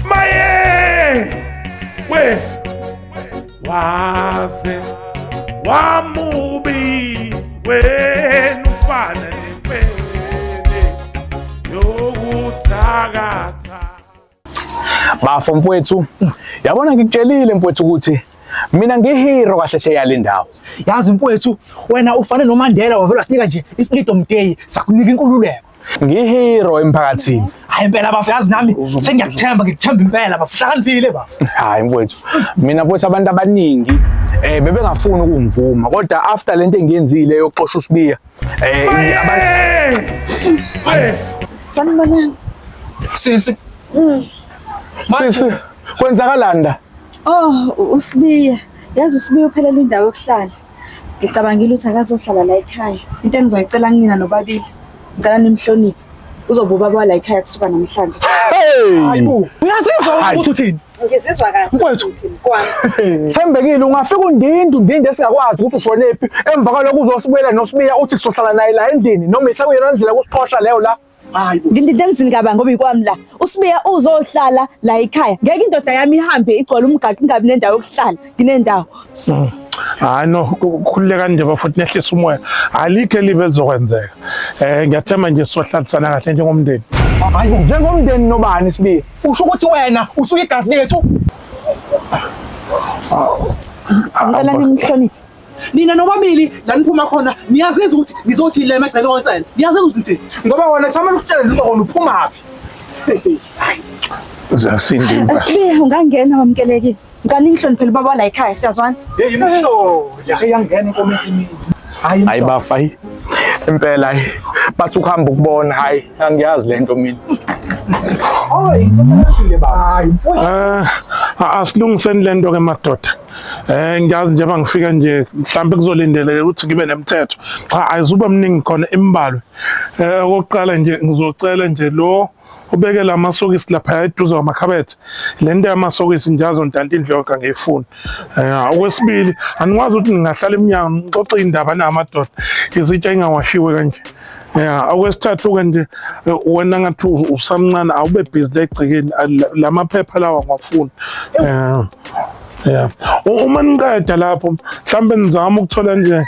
Maye! We! Waze wamubi wena ufana nempene yokuthakatha. Bafo mfowethu, yabona ngikutshelile mfowethu ukuthi mina ngihero kahle hle yale ndawo yazi mfowethu wena ufane nomandela wavela sinika nje i-freedom day sakunika inkululeko ngihero emphakathini hayi impela bafu yazi nami sengiyakuthemba ngikuthemba impela bafu hlakaniphile bafu hayi mfowethu mina mfowethu abantu abaningi eh bebengafuni ukungivuma kodwa after lento engiyenzile yokuxosha usibiya eh abantu sanibonani sisi hmm. sisi kwenzakalanda oh usibiya yazi usibiya uphelelwa indawo yokuhlala Ngicabangile ukuthi akazohlala la ekhaya. Into engizoyicela kunina nobabili. Ngicela nimhloniphe. Uzoba ubaba wala ekhaya kusuka namhlanje. Uyazizwa ukuthi uthini? Ngizizwa kahle. Mfowethu. Kwami. Thembekile ungafika undinde undinde singakwazi ukuthi ushonephi emva kwaloko uzosibuyela nosibiya uthi sizohlala naye la endlini noma isakuyona ndlela kusiqhosha leyo la Hayi bo. Ngindidla emzini kabani ngoba ikwami la. Usibiya uzohlala la ekhaya. Ngeke indoda yami ihambe igcwala umgaqo ingabi nendawo yokuhlala. Nginendawo. Mm. Hayi no ku- khululeka nje bafowethu nehlisa umoya. Alikho elibi elizokwenzeka. Eh ngiyathemba nje sohlalisana kahle njengomndeni. Hayi bo. Njengomndeni nobani sibiya? Usho ukuthi wena usuyigazi lethu? Ngicela Amba. nimhloniphe. nina nobabili la niphuma khona niyaziza ukuthi nizothi le emagcele konsela niyaziza ukuthi nithini ngoba wona kusama kusitshela noma wona uphuma phi zasindimba sibe ungangena wamkelekile ngani ngihloniphele baba la ekhaya siyazwana hey imhlo yangena inkomiti mina hayi hayi bafa hayi impela hayi bathi ukuhamba ukubona hayi angiyazi lento mina Oh, inhlobo yakhe le baba. Hayi, mfowethu. Ah, asilungiseni lento ke madoda. Eh ngiyazi njengoba ngifika nje mhlawumbe kuzolindeleke ukuthi ngibe nemithetho. Cha ayizuba mningi khona imbalwe. Eh okokuqala nje ngizocela nje lo ubeke lamasokisi lapha eduze kwamakhabethe. Lento yamasokisi njazo ntanti indlonka ngiyifuna. Eh okwesibili anikwazi ukuthi ningahlala eminyango nixoxe indaba namadoda. Izitsha ingawashiwe kanje. ya okwesithathu-ke nje eh, wena ngathi usamncane awube bhizi legcekeni la maphepha lawa ngwafuni um ya uma niqeda lapho mhlawumbe nizama ukuthola nje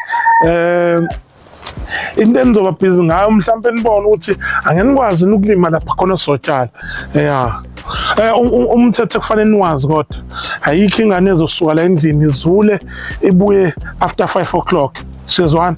um into enizoba bhizi ngayo mhlawumbe nibone ukuthi angenikwazi ukulima lapha khona sotshala ya Eh, um, um, umthetho kufanele niwazi kodwa ayikho ingane ezosuka la endlini izule ibuye after 5 o'clock sizwana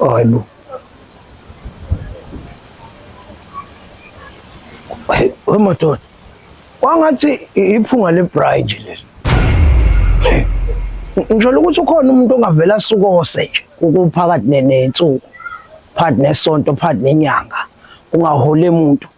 Oh, hayi bo. Hey, we madoda. Wangathi i- iphunga lebrayi nje leli. Hey, Ngisho ukuthi ukhona umuntu ongavela sukose nje ukuphakathi ne- nensuku, phakathi nesonto, phakathi nenyanga, ungahole umuntu.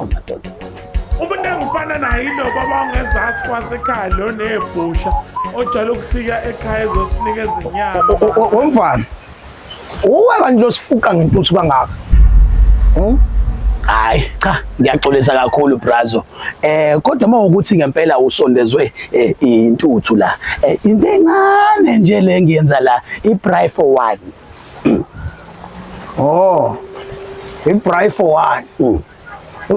amadoda umuntu engifana naye inoba bawungezansi kwasekhaya lo nebhusha ojala ukufika ekhaya ezosinika ezinyama womfana uwe kanti losifuqa ngentuthu kangaka hmm? hayi cha ngiyaxolisa kakhulu brazo eh kodwa uma ukuthi ngempela usondezwe eh, intuthu la eh, into encane nje le ngiyenza la i-bry for one Oh. Ibray for one. Mm.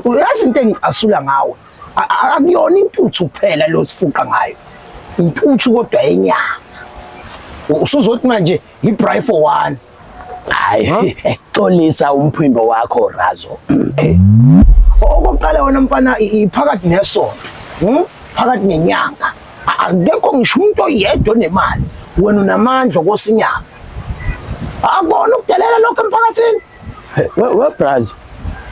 Uyazi into engicasula ngawe. Akuyona intuthu kuphela lo sifuqa ngayo. Intuthu kodwa yenyama. Usuzothi manje ibray for one. Hayi. Xolisa umphimbo wakho Razo. Eh. Okokuqala wena mfana iphakathi nesonto. Hmm? Phakathi nenyanga. Akekho ngisho umuntu oyedwa onemali. Wena unamandla kosinyanga. Akubona ukudelela lokho emphakathini. We we brazo.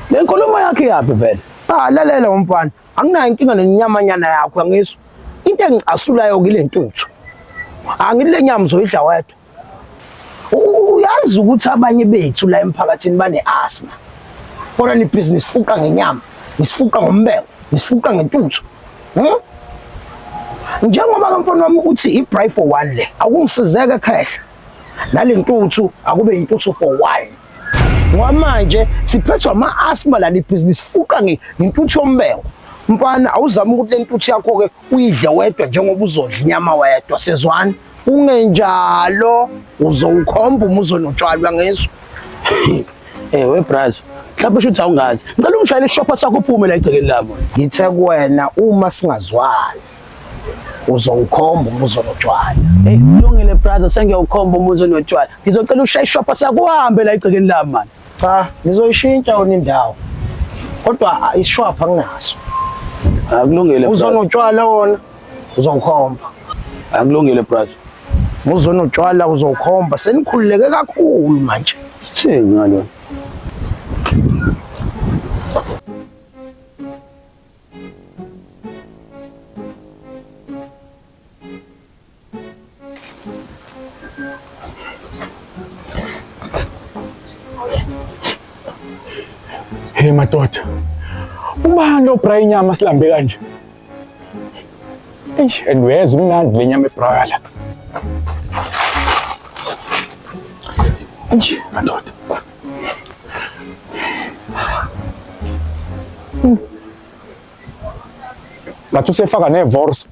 Le nkulumo yakhe yaphi vele? Ah lalela umfana. Anginayo inkinga nenyamanyana yakho angizwa. Into engicasulayo kilentuthu. Angile nyama uzoyidla wedwa. Uyazi ukuthi abanye bethu la emphakathini bane asthma. Kodwa ni business fuqa ngenyama, nisifuqa ngombeko, nisifuqa ngentuthu. Hmm? Njengoba ke mfana wami uthi i pray for one le akungisizeke khehla nalentuthu akube intuthu for one ngoba manje siphethwa ama-asma lali bhizinisi fuqa ngentuthu yombengo mfana awuzame ukuthi le ntuthu yakho-ke uyidle wedwa njengoba uzodla inyama wedwa sezwani kungenjalo uzowukhomba uma uzonotshwalwa ngeso ewe eh, brazo mhlawumbe shuthi awungazi ngicela ungishayele isishopha sakho uphume la egcekeni lami ngithe kuwena uma singazwani uzowukhomba umuzi onotshwala hey kulungile brazo sengiyawukhomba umuzi onotshwala ngizocela ushaye ishopha sakuhambe la igcekeni lami mani cha ngizoyishintsha yona indawo kodwa isishwapha nginaso akulungile uzonotshwala wona uzowukhomba akulungile brazo muzona utshwala uzowukhomba senikhululeke kakhulu manje thini ngalona Hey madoda. Ubani lo bra inyama silambe kanje? Eish, and where's umnandi le nyama ebra la? Eish, madoda. ngathi usefaka nevorse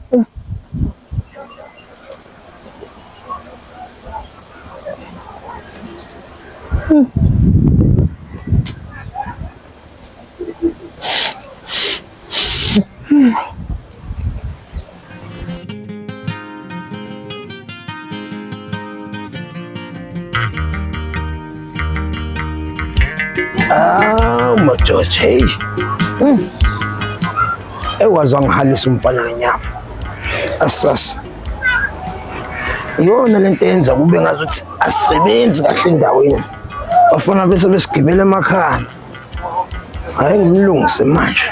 Ah, majoji, hey. Mm. Ewazi wangihalisa umfana ngenyama. Asas. Yona lento yenza kube ngazuthi asebenzi kahle endaweni. Bafuna bese besigibela emakhaya. Hayi ngimlungise manje.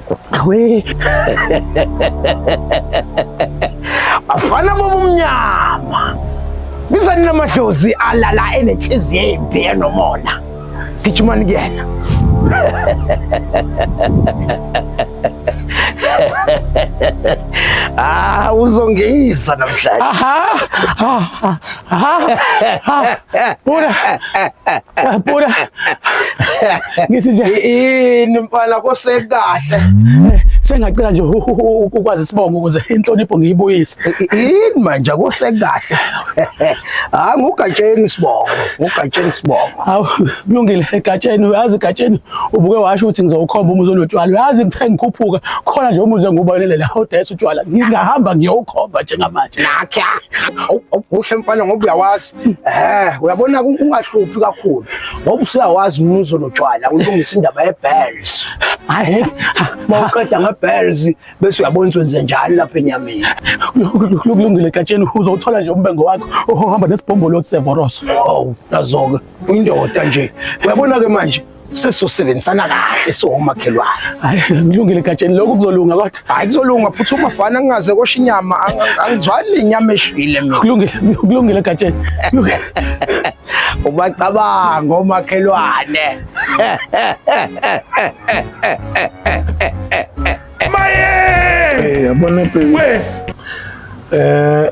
We. Bafana bobumnyama. Biza nina madlozi alala enenhliziyo embi enomona. Gijimani kuyena. Ah, uzongiyisa namhlanje. Aha. Aha. Pura. Pura. ngithi nje yini mfana kosekahle eh, sengacela nje ukwazi isibongo ukuze inhlonipho ngiyibuyise yini manje kosekahle ha ngugatsheni isibongo ngugatsheni isibongo hawu kulungile egatsheni uyazi egatsheni ubuke washo ukuthi ngizowukhomba umuzi onotshwala uyazi ngithe ngikhuphuka khona nje umuzi engubalelela hodayisa utshwala ngingahamba ngiyowukhomba njengamanje nakhe kuhle mfana ngoba uyawazi Eh, uyabona ungahluphi kakhulu ngoba usuyawazi umuzo notshwala ulungisa indaba yebells. Hayi, mawuqeda ngebells bese uyabona ukwenze njalo lapha enyameni. Kulungile gatsheni uzothola nje umbengo wakho ohamba nesibhombolo sevoros. Oh, nazoke. Indoda nje. Uyabona ke manje sesosebenzisana kahle siwomakhelwane hayi kulungile gatsheni lokhu kuzolunga kodwa hayi kuzolunga futhi uma fana ngingaze kosha inyama angizwani lenyama eshile mina kulungile kulungile gatsheni ubacabanga omakhelwane maye yabona bheki eh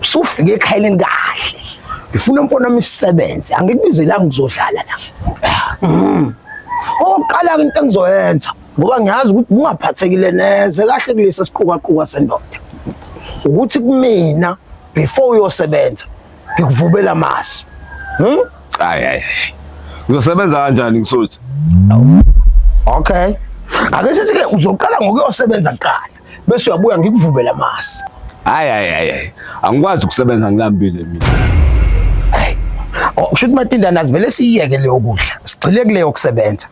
Usufike ekhayeni kahle. Ngifuna umfana imisebenzi, angikubizelanga ukuzodlala la. Mhm. Oqala into engizoyenza ngoba ngiyazi ukuthi ungaphathekile neze kahle kulesi siqukaquka sendoda. Ukuthi kumina before uyosebenza ngikuvubela amasi. Mhm. Hayi hayi. Uzosebenza kanjani ngisuthi? Okay. Ake sithi ke uzoqala ngokuyosebenza kuqala. bese uyabuya ngikuvumele amasi. Hayi hayi hayi. Angikwazi ukusebenza ngilambile mina. Hayi. Oh, kusho ukuthi matindana sivele siyeke leyo kudla. Sigxile kuleyo kusebenza.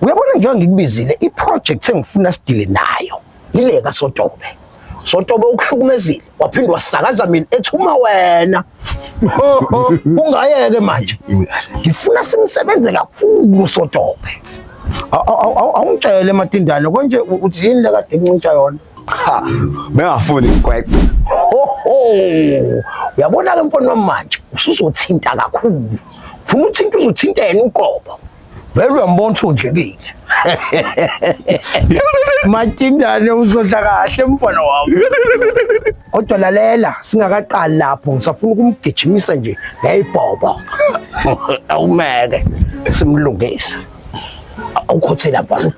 Uyabona njengoba ngikubizile iproject engifuna sidile nayo. Yileka sotobe. Sotobe ukuhlukumezile. waphinde wasakaza mina ethi uma wena ungayeke manje ngifuna simsebenze kakhulu sotobe awungitshele matindane konje uthi yini le kade ngincintsha yona cha bengafuni ngikweqe uyabona ke mfana wami manje usuzothinta kakhulu ufuna uthinta uzothintela uqobo vele uyambona uthunjekile matindane uzodla kahle mfana wami kodwa lalela singakaqali lapho ngisafuna ukumgijimisa nje ngeyibhobo awumeke simlungise awukhothela mfana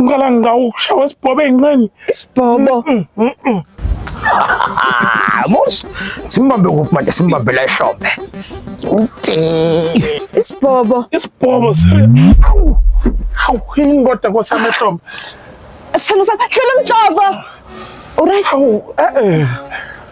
ngicela ngawukushawa isibhobo ey'nqeni isibhobo musa simbambe kuphi manje simbambe la ehlombe isibhobo isibhobo awu awu yini kodwa kosi amehlombe sithando sami hlela umjova uright awu e-e